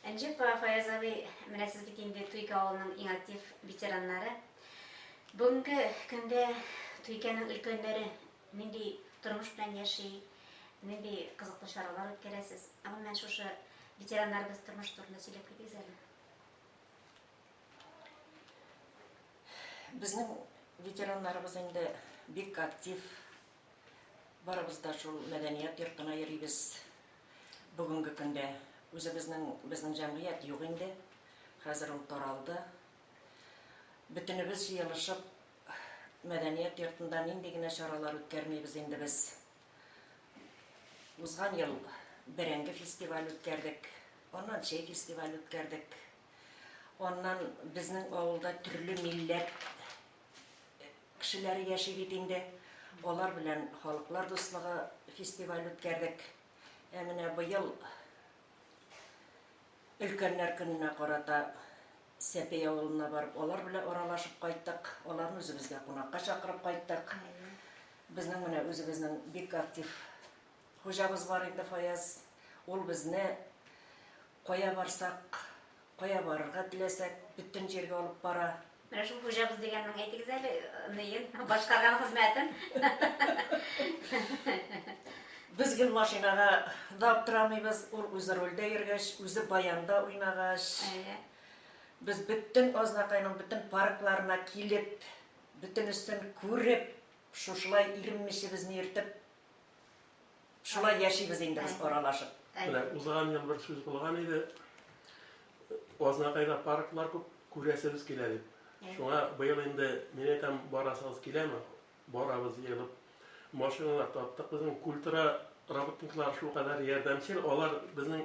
Әнҗеп Фаяз абый, менә сез бит инде Туйка авылының иң актив ветераннары. Бүгенге көндә Туйканың өлкәннәре нинди тормыш белән яши, нинди кызыклы чаралар үткәрәсез? Гомумән шушы ветераннарыбыз тормыш турында сөйләп китегез әле. Безнең ветераннарыбыз инде бик актив Барыбыз да шул мәдәният йортына йөрибез. Бүгенге көндә үзебезнең безнең җәмгыять юк инде. Хәзер ул таралды. Бөтенебез җыелышып мәдәният йортында нинди генә чаралар үткәрмибез инде без. Узган ел бәрәңге фестиваль үткәрдек, аннан чәй фестиваль үткәрдек. Аннан безнең авылда төрле милләт Кешеләре яши бит инде. Алар белән Халыклар дуслыгы фестиваль үткәрдек. Ә менә быел Өлкәннәр көненә карата Сәпей авылына барып, алар белән аралашып кайттык. Аларны үзебезгә кунакка чакырып кайттык. Безнең менә үзебезнең бик актив хуҗабыз бар инде Фаяз. Ул безне кая барсак, Кая барырга теләсәк, бөтен җиргә алып бара. Менә шул хуҗабыз дигәннең әйтегез әле ныен, башкарган хезмәтен. Без гел машинага да аптырамыйбыз, ул үзе рульдә йөргәч, үзе баянда уйнагач. Әйе. Без бөтен Азнакайның бөтен паркларына килеп, бөтенесен күреп, шушылай иренмичебезне иртеп, Шулай яшибез инде без аралашып. Менә узган ел бер сүз булган иде. Азнакайда парклар күп күрәсебез килә дип. Шуңа быел инде мин әйтәм, барасыгыз киләме? Барабыз җыелып. Машиналар таптык. Безнең культура работниклары шулкадәр ярдәмчел, алар безнең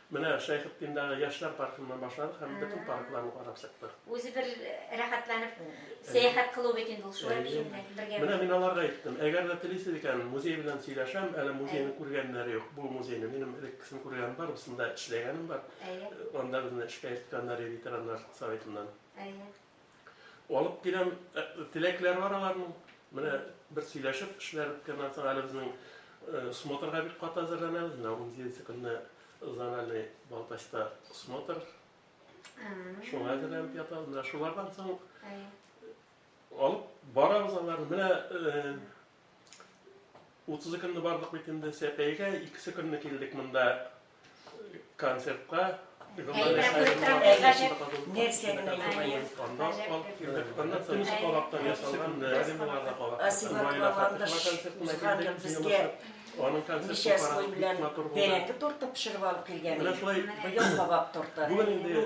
Менә Шәйхетдиндагы яшьләр паркыннан башладык һәм бөтен паркларны карап чыктык. Үзе бер рәхәтләнеп сәяхәт кылу бит инде ул шулай киемдә бергә. Менә мин аларга әйттем, әгәр дә телисез икән, музей белән сөйләшәм, әле музейны күргәннәре юк. Бу музейны минем элеккесен күргәнем бар, бусында эшләгәнем бар. Анда безне эшкә илткәннәр иде ветераннар советыннан. Алып киләм, теләкләре бар аларның. Менә бер сөйләшеп, эшләр беткәннән соң әле безнең смотрга бик каты әзерләнәбез. Менә унҗиденче көнне зональный Балтачта смотр. Шуңа әзерләнеп ятабыз. Менә шулардан соң алып барабыз аларны. Менә 32 көнне бардык бит инде Сәпәйгә, икесе көнне килдек монда концертка. Аның концерты карап, матур булды. Бәрәңге торты пешереп алып килгән. Менә шулай, ел кабак торты. Бүген инде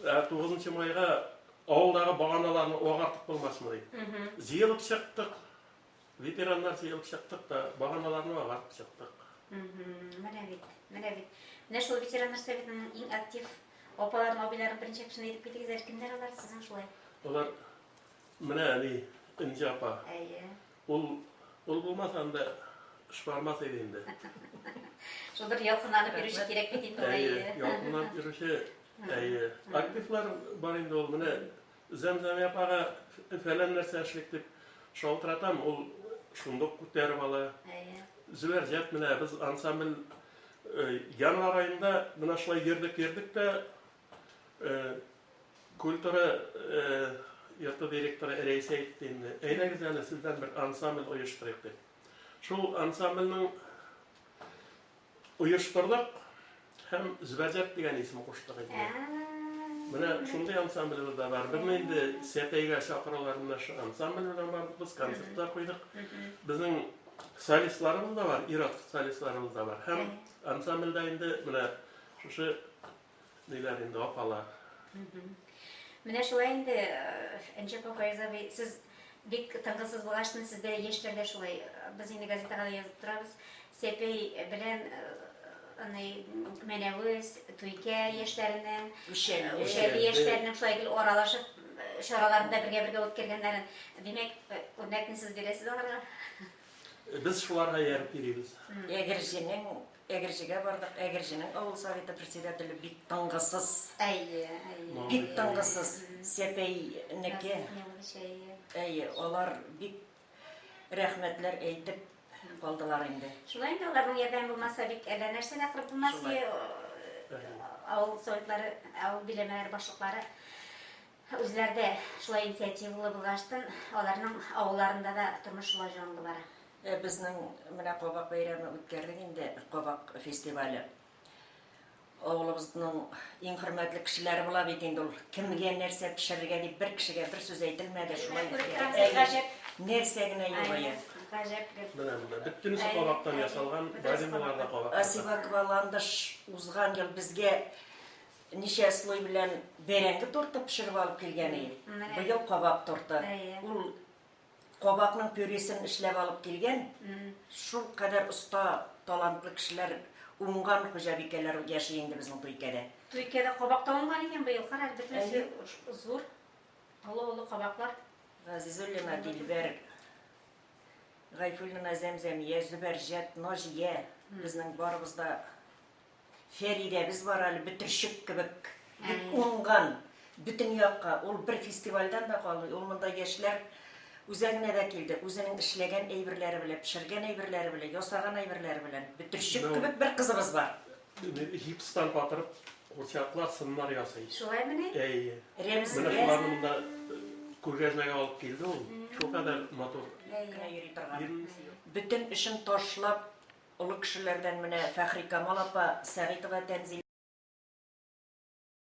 Ә тугызынчы майга авылдагы баганаларны агартып булмасмы ди. Җыелып чыктык. Ветераннар җыелып чыктык та, баганаларны агартып чыктык. Менә бит, менә бит. Менә шул ветераннар советының иң актив апаларын, абыйларын беренче кешене әйтеп китегез әле, кемнәр алар сезнең шулай? Алар Менә әни, Энҗе апа. Әйе. Ул, ул булмаса анда шыбармас иде инде. Шул бер ялкынланып йөрүче кирәк бит инде. Әйе, ялкынланып йөрүче. Әйе. Активлар бар инде ул. Менә Зәмзәмия апага фәлән нәрсә эшлик дип шалтыратам, ул шундук күтәреп ала. Әйе. Зөбәр җәп менә без ансамбль Январ айында менә шулай йөрдек, йөрдек тә Культура йорты директоры Рәйсә әйтте инде. Әйдәгез әле сездән бер ансамбль оештырыйк дип. Шул ансамбльнең оештырдык һәм Зөбәрҗәт дигән исем куштык инде. Менә шундый ансамблебез дә бар. Безне инде Сәтәйгә чакыралар, менә шул ансамбль белән бардык без, концертлар куйдык. Безнең солистларыбыз да бар, ир-ат солистларыбыз да бар. Һәм ансамбльдә инде менә шушы Диләр инде апалар. Менә шулай инде, Энҗе апа, Фаяз абый, сез бик тынгысыз булгач, менә сездә яшьләр дә шулай. Без инде газетага да язып торабыз. Сәпәй белән аны Мәнәвез, Туйкә яшьләренең, Ушәли яшьләренең шулай гел аралашып чараларында бергә-бергә үткәргәннәрен. Димәк, үрнәкне сез бирәсез аларга. Без шуларга ярып йөрибез. Әгерҗенең Әгерҗегә бардык, Әгерҗенең авыл советы председателе бик тынгысыз. Әйе, әйе. Бик тынгысыз. Сәпәйнеке. Әйе, алар бик рәхмәтләр әйтеп калдылар инде. Шулай инде аларның ярдәме булмаса бит әллә нәрсә дә кырып булмас иде. Авыл советлары, авыл биләмәләре башлыклары үзләрдә шулай инициативалы булгаштан, аларның авылларында да тормыш шулай җанлы бара. Ә безнең менә кабак бәйрәме үткәрдек инде, кабак фестивале. Авылыбызның иң хөрмәтле кешеләре була бит инде ул. Кемгә нәрсә пешерергә дип бер кешегә бер сүз әйтелмәде, шулай үткәрдек. Нәрсә генә юк ия. Гаҗәп гел. Менә монда бөтенесе кабактан ясалган, бадиналар да кабактан. Асивакова Ландыш узган ел безгә ничә слой белән бәрәңге торты пешереп алып килгән иде. Быел кабак торты. Ул Кабакның пюресен эшләп алып килгән, шул кадәр оста, талантлы кешеләр, уңган хуҗабикәләр яши инде безнең Туйкәдә. Туйкәдә кабак та уңган икән быел, кара әле, бөтенесе зур, олы-олы кабаклар. Газизуллина Дилбәр, Гайфуллина Зәмзәмия, Зөбәрҗәт, Наҗия, безнең барыбыз да Фәридәбез бар әле бөтерчек кебек, бик уңган, бөтен якка. Ул бер фестивальдән дә калмый, ул монда яшьләр үзәгенә дә килде, үзенең эшләгән әйберләре белән, пешергән әйберләре белән, ясаган әйберләре белән. Бөтерчек кебек бер кызыбыз бар. Гипстан батырып, курчаклар, сыннар ясый. Шулаймыни? Әйе. Рәмзия. Менә шуларны монда күргәзмәгә алып килде ул. Шулкадәр матур. Генә йөри торган. Бөтен эшен ташлап, Олы кешеләрдән менә Фәхрикамал апа Сәгыйтова Тәнзилә.